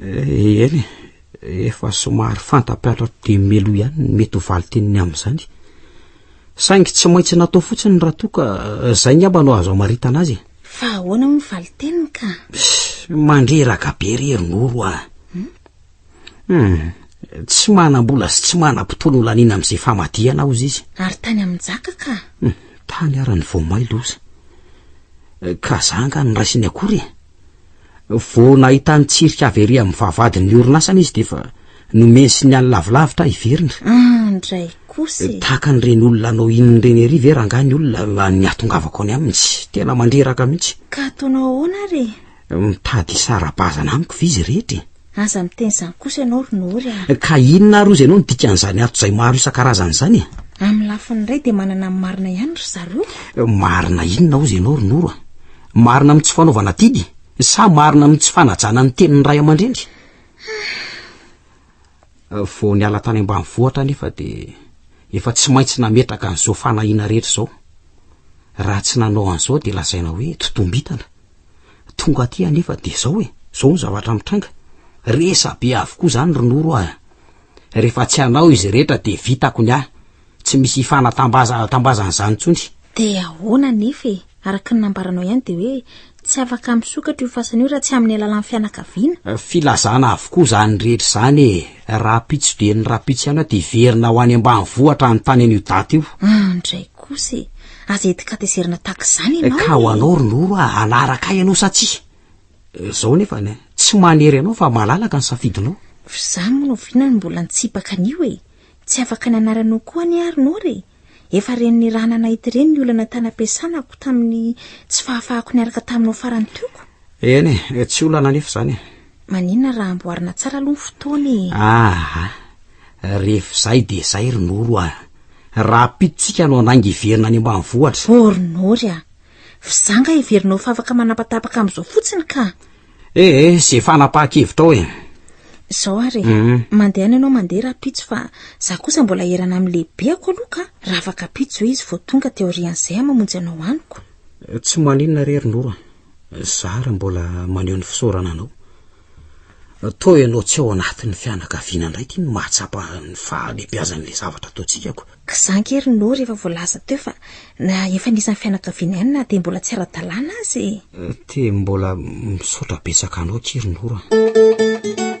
S2: Eny,
S3: efa somary fanta-piantra dia melo ihany ny mety ho valin-teniny amin'izany. Saingy tsy maintsy natao fotsiny raha toa ka izay ngamba no azo amaritana azy. Fa ahoana moa ny
S2: valin-teniny ka? Mandreraka
S3: be ry Rinoro ah. Hmm? Hmm. Tsy manam-bola sy tsy manam-potoana ho laniana amin'izay famadihana aho izy. Ary tany amin-jaka
S2: ka? Hmm. Tany ara-ny
S3: vao may loza. Ka zanga ny raisiny akory. Vao nahita ny tsirika avy ery amin'ny vavahadin'ny orinasany izy dia efa nomeny signal lavilavitra hiverina. Ah, ndray
S2: kosa e! Tahaka an'ireny olona
S3: anao inona ireny ery ve rangahy ny olona nihatongavako any aminy? Tena mandreraka mihitsy. Ka ataonao ahoana
S2: ary e? Mitady
S3: hisara-bazana amiko ve izy rehetra e? Aza miteny izany
S2: kosa ianao ry Nory a! Ka inona ary hoy
S3: izy ianao no dikan'izany antso izay maro isan-karazany izany e? Amin'ny lafiny iray
S2: dia manana ny marina ihany ry zareo. Marina inona
S3: hozy ianao ry Noro a? Marina amin'ny tsy fanaovana didy sa marina amin'ny tsy fanajana ny tenin'ny ray aman-dreny? Vao niala tany ambanivohitra anefa dia efa tsy maintsy nametraka an'izao fanahiana rehetra izao. Raha tsy nanao an'izao dia lazaina hoe totombitana. Tonga aty anefa de zao e, zao ny zavatra mitranga. Resa be avokoa zany ry Noro ah. Rehefa tsy anao izy rehetra de vitako ny ahy. Tsy misy hifanatambaza tambazana zany tsony. De ahoana
S2: anefa e, araka ny nambaranao ihany de hoe tsy afaka misokatra io fasana io raha tsy amin'ny alalan'ny fianakaviana. Filazana avokoa
S3: zany rehetra zany e, rahampitso dia ny rahampitso ihany aho de hiverina ho any ambanivohitra any tany an'io daty io. An dray kosa
S2: e, Aza etikatezerina takzany eh, ianao. Ka ho anao ry Noro a,
S3: hanaraka ahy ianao sa tsia? Eh, zao nefa ne, tsy manery anao fa malalaka ny safidinao. F'za moa no
S2: vina no mbola nitsipaka an'io e. Tsy afaka ny anaranao koa anie ary Noro e. Efa ren'ny raha nanahity reny ny olana tany ampiasanako tamin'ny tsy fahafahako niaraka taminao farany tioko. Eny e, eh,
S3: tsy olana nefa zany e. Maninona raha
S2: amboarina tsara aloha ny fotoana e! Aha!
S3: Ref
S2: zay de
S3: zay ry Noro
S2: a!
S3: Rahampitsotsika no handainga hiverina any ambanivohitra. Oh ry Nory a!
S2: F'zanga heverinao fa afaka manapatapaka amin'izao fotsiny ka! Eh eh, ze
S3: fanapaha-kevitrao e! Zao ary
S2: e! Mandehana ianao mandeha rahampitso fa za kosa mbola hierana amin'ny lehibeako aloha ka! Raha afaka ampitso ve izy vao tonga de aorian'izay aho mamonjy anao amiko? Tsy maninona
S3: re ry Noro a! Zara mbola maneho ny fisaorana anao. Toa ianao tsy ao anatin'ny fianakaviana indray ity no mahatsapa ny fahalehibiazan'ilay zavatra ataontsika ko. Za ange ry Noo
S2: rehefa voalaza teo fa na efa anisan'ny fianakaviana ihany na dia mbola tsy ara-dalàna aza e! Te mbola
S3: misaotra betsaka anao akia ry Noo a!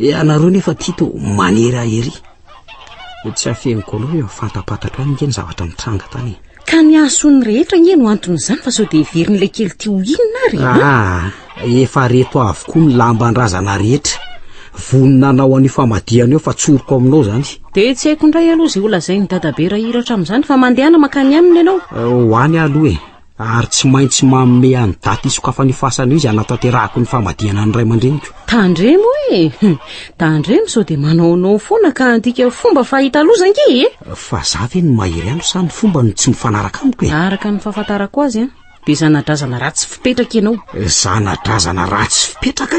S3: Ianareo nefa tia to manery ahy ery. Ho tsy afeniko aloha eo fantapatatro any nge ny zavatra nitranga tany. Ka ny hasony
S1: rehetra nge no anton'izany fa sao dia heverin'ilay kely tia ho inona ary? Ah, efa reto avokoa
S3: ny lamban-drazana rehetra. Vonona hanao an'io famadihana io fa tsoriko aminao zany. Dia tsy haiko indray
S1: aloha izay holazain'i dadabe rahiratra amin'izany fa mandehana mankany aminy ianao. Ho any aho aloha e.
S3: Ary tsy maintsy manome an'i daty hisokafan'io fasana io izay hanatanterahako ny famadihana ny ray aman-dreniko. Tandremo e!
S1: Tandremo sao dia manaonao foana ka handika fomba fahita aloha za nge e! Fa za ve no
S3: mahery andro sa ny fomba no tsy mifanaraka amiko e? Araka ny fahafantarako
S1: azy an, dia zanadrazana ratsy fipetraka ianao. Zanadrazana
S3: ratsy fipetraka?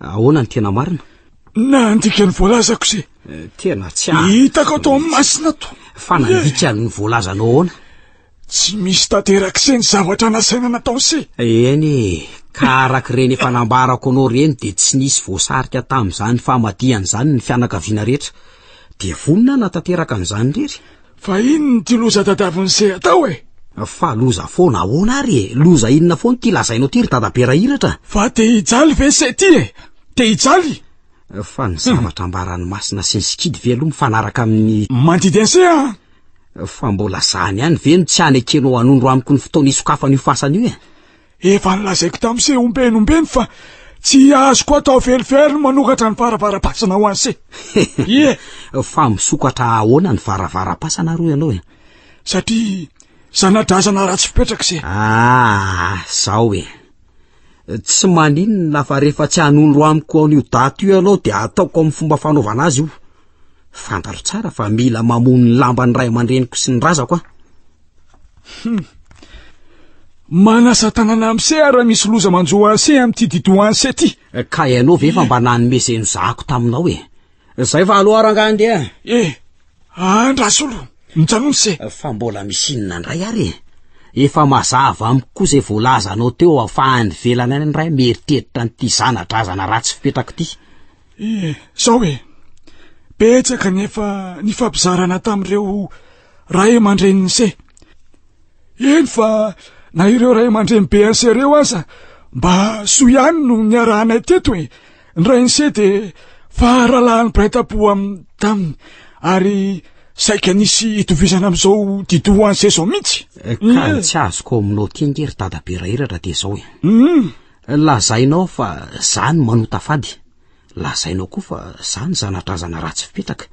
S3: Ahoana ny tena marina? Nandika
S5: ny voalazako izay. Eh, tena tsy ahy.
S3: Hitako ato amin'ny
S5: masina to. Fa nandika ny
S3: voalazanao ahoana? Tsy
S5: misy tanterak'izay ny zavatra nasaina nataony se. Eny,
S3: ka araka ireny efa nambarako anao ireny dia tsy nisy voasarika tamin'izany famadihana izany ny fianakaviana rehetra. Dia vonona na tanteraka an'izany irery. Fa inona ty
S5: loza dadavo nise atao e? Fa loza
S3: foana ahoana ary e? Loza inona foana ty lazainao ty ry dadabe Rahiratra? Fa te hijaly
S5: ve se ty e? Te hijaly? Fa ny
S3: zavatra ambaran'i Masina sy ny sikidy ve aloha mifanaraka amin'ny. Mandidy anse an!
S5: Fa mbola
S3: zany ihany ve no tsy hanekenao hanondro amiko ny fotoana hisokafan'io fasana io e? Efa nolazaiko
S5: tamin'i Seh ombieny ombieny fa tsy azoko atao velively ny manokatra ny varavaram-pasana ho an'i Seh. Ie!
S3: Fa misokatra ahoana ny varavaram-pasana ary ianao e? Satria
S5: zana-drazana ratsy fipetraka Seh. Ah,
S3: zao e. Tsy maninona fa rehefa tsy hanondro amiko an'io daty io ianao dia ataoko amin'ny fomba fanaovana azy io. Fantatro tsara fa mila mamono ny lamban'ny ray aman-dreniko sy ny razako aho.
S5: Hum. Manasa tanana amse ara misy loza manjo anse amty dido anse ty. Ka ianao ve fa
S3: mba nanome zay nozahako taminao e. Zay fa aloha rangahy ndeha. E,
S5: andrasolo, mijanony se. Fa mbola misy inona
S3: indray ary e. Efa mazava amiko koa zay voalazanao teo afahany velana any indray mieritreritra anty zanadrazana ratsy fipetrako ty. E,
S5: zao e. Betsaka nefa nifampizarana tamreo Ray aman-drenin'ny se. Eny fa na ireo ray aman-dreny BNC ireo aza mba soa ihany no niarahanay teto e. Ny rain'ny se dia faharalahan'ny mpiray tampo amin'ny taminy ary saika nisy itovizana amin'izao didoha an'se izao mihitsy. Eh, ka ny tsy
S3: azoko ao aminao ty ange ry dadabe rahiratra dia izao e. Mm. Lazainao fa zany manota fady. Lazainao koa fa za ny zanadrazana ratsy fipetraka,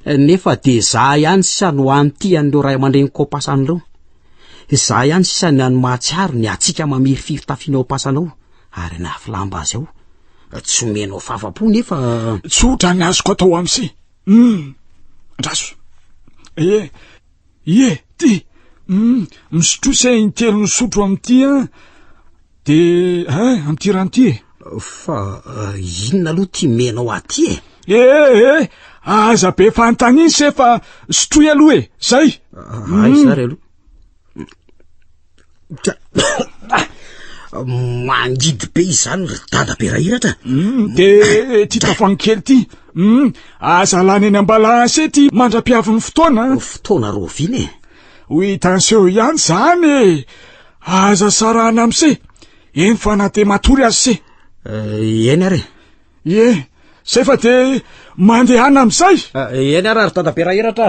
S3: nefa de za ihany sisa no any tian'ireo ray aman-dreny kopasana ireo. Za ihany sisa ny any mahatsiaro ny hatsiaka mamirifiry tafinao pasanao ary nafy lamba azy ao. Tsy omenao fafa-po nefa... Tsotra ny
S5: azoko atao amsi. Hum, andraso. Ie, ie, ty. Hum, misotrosa intelo misotro amin'ity an. De eh, amin'ity rano ity e Fa
S3: eh, inona aloha ty menao aty e E eh, eh,
S5: aza be fanontaniana se fa sotroy aloha e, zay Ay mm. zary
S3: aloha mangidy be izany ry dada be rahiratra mm, de
S5: ty tavoangy kely ty mm, aza lany eny ambala ase ty mandra-piavin'ny fotoana fotoana
S3: roviana e ho hitanseho
S5: ihany zany e Aza sarahana amse eny fa na dia matory azy se eh, eny ary
S3: e
S5: zay fa dia mandehana amin'izay eh, eny ary ary
S3: tadabera hiratra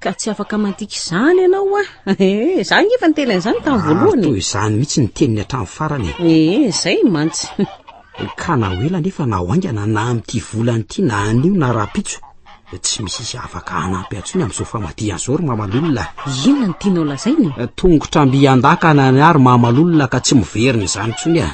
S3: Ka tsy
S1: afaka mandika izany ianao a. Eh, za nge efa niteny an'izany tamin'ny voalohany. Toy izany mihitsy ny
S3: teniny hatramin'ny farany. Eh, zay mantsy.
S1: Ka na
S3: ho ela nefa na ho haingana na amin'ity volana ity na anio na rahampitso, tsy misy izy afaka hanampy antsony amin'izao famadihany izao ry Mamalolona. Inona no tianao
S1: lazaina e? Tongotra mby
S3: an-dakana ny ahy ry Mamalolona ka tsy miverina izany intsony a.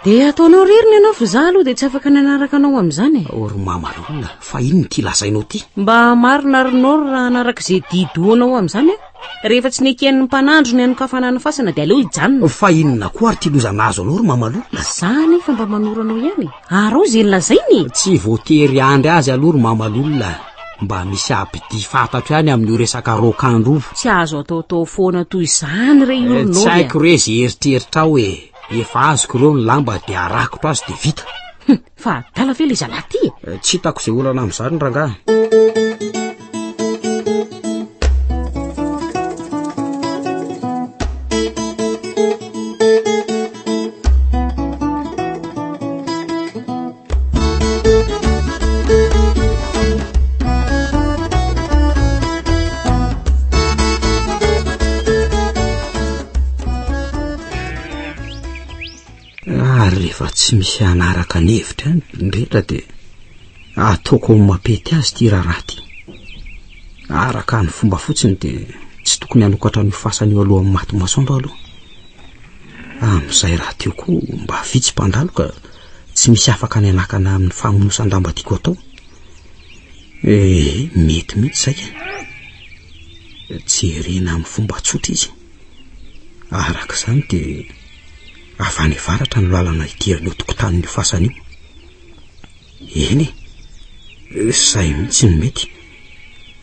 S1: Dia ataonao irery ny anao fa za aloha dia tsy afaka nanaraka anao amin'izany e. O ry mamalona,
S3: fa inona ity lazainao ity? Mba marina ary
S1: nao raha hanaraka izay didoanao amin'izany aho. Rehefa tsy neken'ny mpanandro ny hanokafana ny fasana dia aleo hijanona. Fa inona koa ary ity
S3: loza nahazo anao ry mamalona? Za anefa mba manoro
S1: anao ihany e. Arao izay lazainy e. Tsy voatery
S3: handry azy aloha ry mamalona. Mba misy abd fantatro ihany amin'io resaka raokandro io. Tsy azo ataotao
S1: foana toy izany re io ry nao e. Tsy haiko re izay
S3: eritreritrao e. Efa azoko ireo ny lamba dia arakotro azy dia vita. Hum, fa adala
S1: ve ilay zalahy ty? Eh, tsy hitako izay olana
S3: amin'izany rangahy. tsy misy anaraka ny hevitra any rehetra dia ataoko ao mapety azy ty raharaha ty araka ny fomba fotsiny dia tsy tokony hanokatra ny fasany eo alohan'ny maty masoandro aloha amin'izay raha teo koa mba vitsy mpandaloka tsy misy afaka ny hanakana aminy famonosan-damba tiako atao eh mety mihitsy izay e jerena amin'ny fomba tsotra izy araka izany dia avy any varatra ny lalana hidirana eo tokotanin'io fasana io eny e izay mihitsy ny mety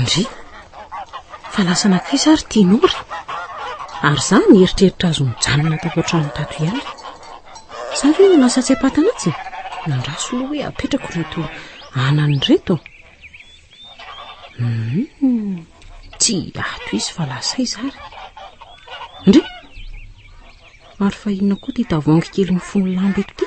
S1: Ndry! Fa lasa nankaiza ary ity Nora? Ary za nieritreritra azy mijanona tato an-trano tato ihany. Za ve no lasa tsy ampatan'atsy? Nandraso loha hoe apetrako ireto anany ireto. Hmm, tsy ato izy fa lasa izy ary. Ndry! Ary fa inona koa ity tavoahangy kely mifono lamba eto ity?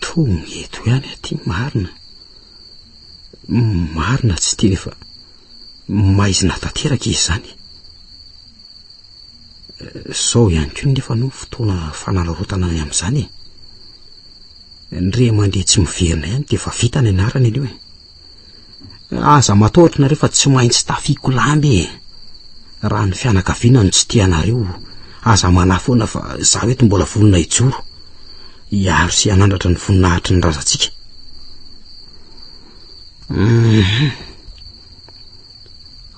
S3: Tony eto ihany aty marina. Marina tsy teny fa maizina tanteraka izany. Sao ihany koa nefa no fotoana fanararaotana any amin'izany e. Ny ray aman-dreny tsy miverina ihany dia efa vita ny anarany anio e. Aza matahotra nareo fa tsy maintsy tafiako lamba e! Raha ny fianakaviana no tsy tia anareo, aza manahy foana fa izaho eto mbola vonona hijoro, hiaro sy hanandratra ny voninahitry ny razantsika. Hum.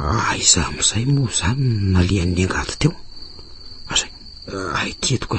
S3: Aiza ah, amin'izay moa izany no nalehan'ny angady teo? Aza, ahy ity eto ka.